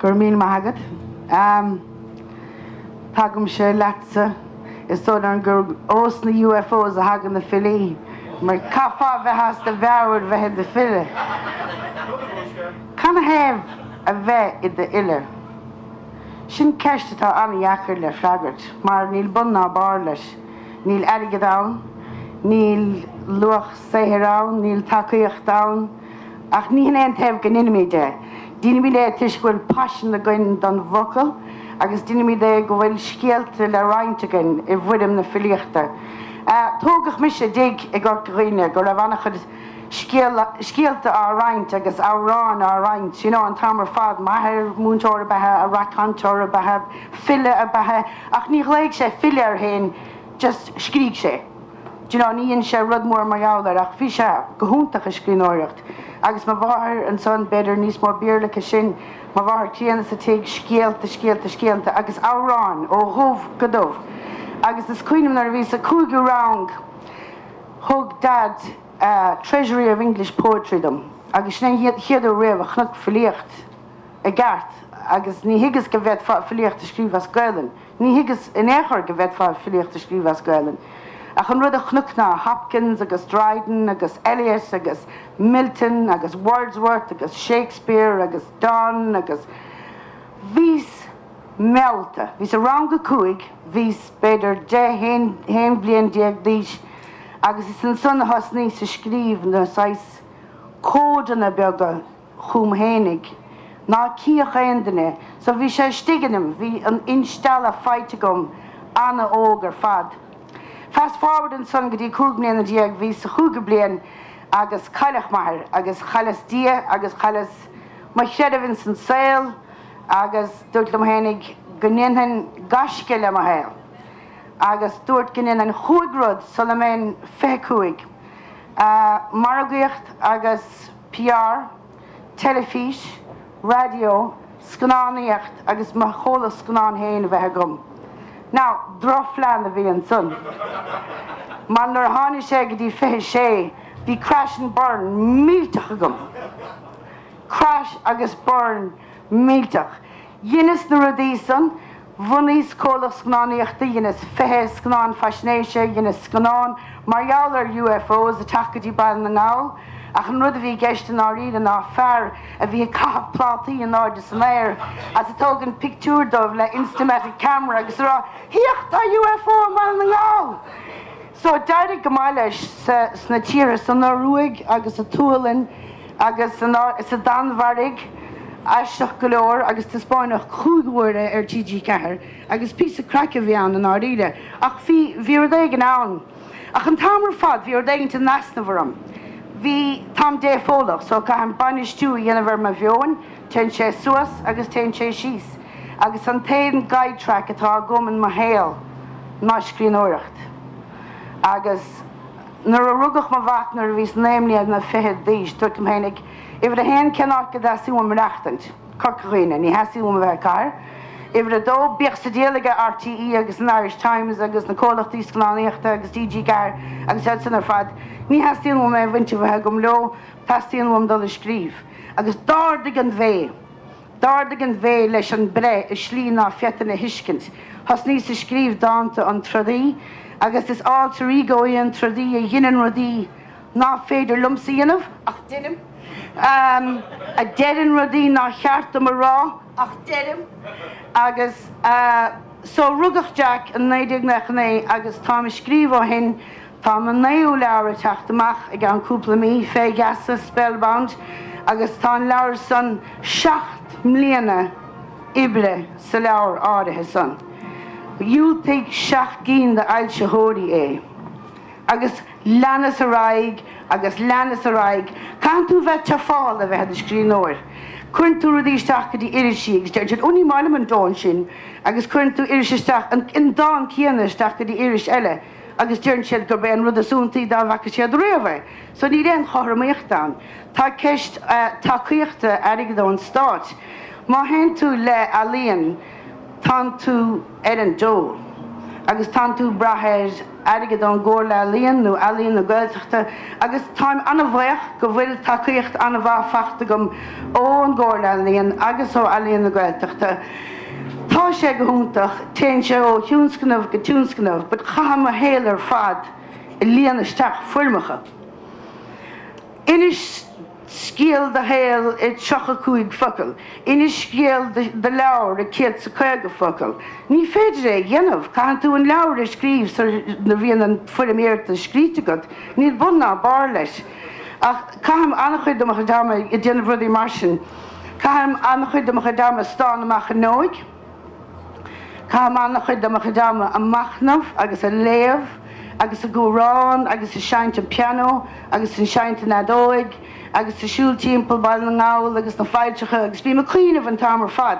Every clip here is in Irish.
Go raibh míle maith agat. Tagaimse leatsa. Is dóigh liom gur ó sna UFOs a thagann na filí mar caithfeá a bheith as do mheabhair bheith i do file. Cad ina thaobh a bheith i do fhile? Sin ceist atá an-dheacair le freagairt mar níl bun ná barr leis. Níl airgead ann, níl luach saothair ann, níl tacaíocht ann. Ach ní hin é ina thaobh go ndeinimíd é. Deinimíd é toisc go bhfuil paisean againn don bhfocal agus deinimíd é go bhfuil scéalta le roinnt againn i bhfoirm na filíochta. Tógadh mise i dtigh i gCorca Dhuibhne go raibh an-chuid. scéalta á roinnt agus amhráin á roinnt you know an t-am ar fad, m'athair, múinteoir ab ea, reacaire cainteoir ab ea, file ab ea, ach ní ghlaoigh sé file air féin just scrígh sé d'you know ní dhein sé rud mór mar gheall air ach bhí sé go hiontach ag scríbhneoireacht agus mo mháthair ansan b'fhéidir níos mó Béarla aici sin, mo mháthair críonna sa tigh, scéalta, scéalta, scéalta agus amhráin ó dhubh go dubh agus is cuimhin liom nuair a bhíos sa cúigiú rang, Thug Daid A Treasury of English Poetry dom agus sin é an chéad uair riamh a chonac filíocht i gceart agus ní thuigeas go bhféadfá filíocht a scríobh as Gaelainn, ní thuigeas in aon chor go bhféadfá filíocht a scríobh as Gaelainn ach an rud a chonac ná Hopkins agus Dryden agus Eliot agus Milton agus Wordsworth agus Shakespeare agus Donne agus bhíos meallta. Bhíos i rang a cúig, bhíos b'fhéidir deich, haon bhliain déag d'aois agus is ansan a thosnaíos ag scríobh na saghas códanna beaga dom fhéinig ná cífeadh aon duine. So bhí sé istigh ionam, bhí an instealladh faighte agam ana-óg ar fad. Fast forward ansan go dtí cúig bliana déag, bhíos sa chúigiú bliain agus cailleadh m'athair agus chailleas Dia agus chailleas mo chreideamh ins an saol, Agus dúrt liom fhéinig go ndéanfainn gaisce le mo shaol. Agus dúrt go ndéanfainn chúig rud sula mbeinn fiche cúig. Margaíocht agus PR, teilifís, raidió, scannánaíocht agus mo chomhlacht scannán féin a bheith agam. Now, drochphlean a bhí ansan. Mar nuair a tháinig sé go dtí fiche sé bhí crash and burn millteach agam. Crash agus burn millteach. Dheineas na rudaí san, bhunaíos comhlacht scannánaíochta, dheineas fiche scannán faisnéise, dheineas scannán mar gheall ar UFOs ag teacht go dtí Baile na nGall, ach an rud a bhí i gceist i ndáiríre ná fear a bhí ag caitheamh plátaí in airde san aer agus ag tógaint pictiúr dóibh le Instamatic Camera agus ag rá Féach tá UFO i mBaile na nGall! So d'éirigh go maith leis sna tíortha san Ioruaig agus sa tSualainn agus sa Danmhairg aisteach go leor agus taispeáineadh cúig huaire ar TG4 agus píosa craic a bhí ann i ndáiríre ach bhí bhí rud éigin ann ach an t-am ar fad bhí rud éigin in easnamh orm bhí táim dépholach so caithim bainistiú a dhéanamh ar mo mheoin téann sé suas agus téann sé síos. agus an t-aon guide-track atá agam in mo shaol ná scríbhneoireacht. Agus nuair a rugadh mo mhac, nuair a bhíos naoi mbliana fichead d'aois, dúrt liom fhéinig, uimhir a haon, cén áit go dteastaigh uaim maireachtaint? Corca Dhuibhne. Ní theastaigh uaim a bheith i gcathair. Uimhir a dó, bíodh an diabhal aige RTÉ agus an Irish Times agus na comhlachtaí scannánaíochta agus TG4 agus iad sin ar fad, ní theastaíonn uaim aon bhaint a bheith agam leo, teastaíonn uaim dul ag scríobh. Agus d'ardaigh an bhé. D'ardaigh an bhé leis an breith i slí ná féadfainn a thuiscint. Thosnaíos ag scríobh dánta an trodaí agus is alter ego í an trodaí a dheineann rudaí ná féidir liomsa a dhéanamh ach deinim, a deireann rudaí ná ceart dom a rá ach deirim agus so rugadh Jack i 1999 agus táim ag scríobh ó shin Tá an naoú leabhar ag teacht amach i gceann cúpla mí, Fé Geasa, Spellbound, agus tá an leabhar san, seacht mbliana oibre sa leabhar áirithe san. Dhiúltaigh seacht gcinn de fhoilsitheoirí é. Agus leanas ar aghaidh agus leanas ar aghaidh. Caitheann tú bheith tufáilte a bheith i do scríbhneoir. Cuireann tú rudaí isteach go dtí irisí agus deireann siad, Ó ní maith liom an dán sin. Agus cuireann tú iris isteach, an dán céanna isteach go dtí iris eile. agus deireann siad gurb é an rud is iontaí dá bhfaca siad riamh é. So níl aon chothromaíocht ann. Tá ceist tacaíochta airgid ón Stát. Má théann tú le ealaíon tánn tú ar an dól agus tánn tú ag brath ar airgead ón gComhairle Ealaíon nó Ealaín na Gaeltachta agus táim an-bhaoch go bhfuil tacaíocht an-mhaith faighte agam ón gComhairle Ealaíon agus ó Ealaín na Gaeltachta. Tá sé go hiontach, téann sé ó thionscnamh go tionscnamh but caithim mo shaol ar fad ag líonadh isteach foirmeacha. Inis scéal do shaol i dtríocha cúig focal, inis scéal do leabhar i céad is a caoga focal. Ní féidir é a dhéanamh, caitheann tú an leabhar a scríobh sara mbíonn an foirm iarratais scríte agat, níl bun ná barr leis. Ach caithim an-chuid de mo chuid ama ag déanamh rudaí mar sin. Caithim an-chuid de mo chuid ama ag stánadh amach ar ndóigh. Caithim an-chuid de mo chuid ama a' machnamh agus a' léamh agus a' gúrán agus a' seinnt an pianó agus a' seinnt an fheadóig agus a' siúl timpeall Baile na nGall agus na failltreacha agus bím a' cuimhneamh an t-am ar fad.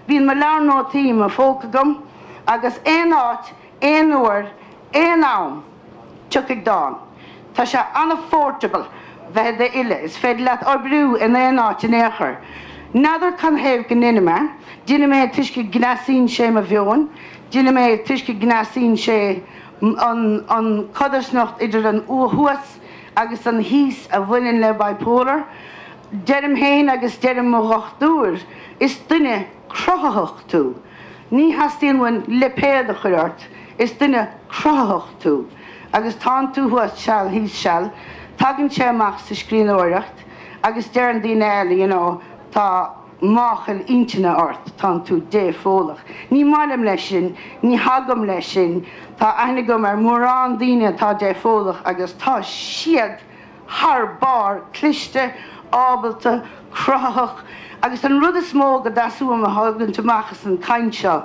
Bíonn mo leabhar nótaí i mo phóca agam agus aon áit, aon uair, aon am. Tiocfaidh dán. Tá sé an-phourtable bheith i do fhile, is féidir leat oibriú in aon áit in aon chor. N'fheadar canathaobh go ndeinim é, deinim é toisc go gcneasaíonn sé mo mheoin, deinim é toisc go gcneasaíonn sé an codarsnacht idir an thuas agus an thíos a bhaineann le bipolar. Deirim féin agus deireann mo dhochtúir, is duine cruthaitheach tú. Ní theastaíonn uainn lipéad a chur ort, is duine cruthaitheach tú agus tánn tú thuas seal thíos seal, tagann sé amach sa scríbhneoireacht agus deireann daoine eile you know tá máchail intinne ort, tánn tú dépholach. Ní mbailim leis sin, ní thagaim leis sin, tá aithne agam ar mhórán daoine atá dépholach agus tá siad. thar barr, cliste, ábalta, cruthaitheach agus an rud is mó go dteastódh uaim a thabharfainn amach as an chaint seo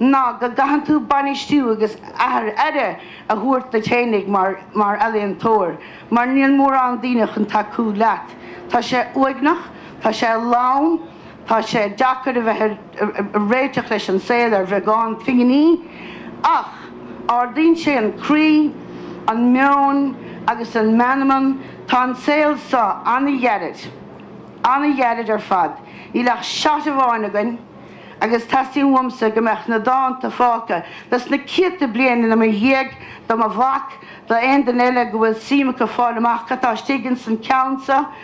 ná go gcaitheann tú bainistíú agus a thabhairt aire a thabhairt duit fhéinig mar ealaíontóir mar níl mórán daoine chun tacú leat. Tá sé uaigneach, tá sé lán. Tá sé deacair a bheith ag réiteach leis an saol ar bheagán pinginí ach ardaíonn sé an croí, an meon agus an meanman. Tá an saol so an-ghairid, an-ghairid ar fad. Níl ach shot amháin againn agus teastaíonn uaimse go mbeadh na dánta fágtha dos na céadta bliain i mo dhiaidh, do mo mhac, d'aon duine eile go bhfuil suim acu fáil amach cad tá istigh ins an cheann so.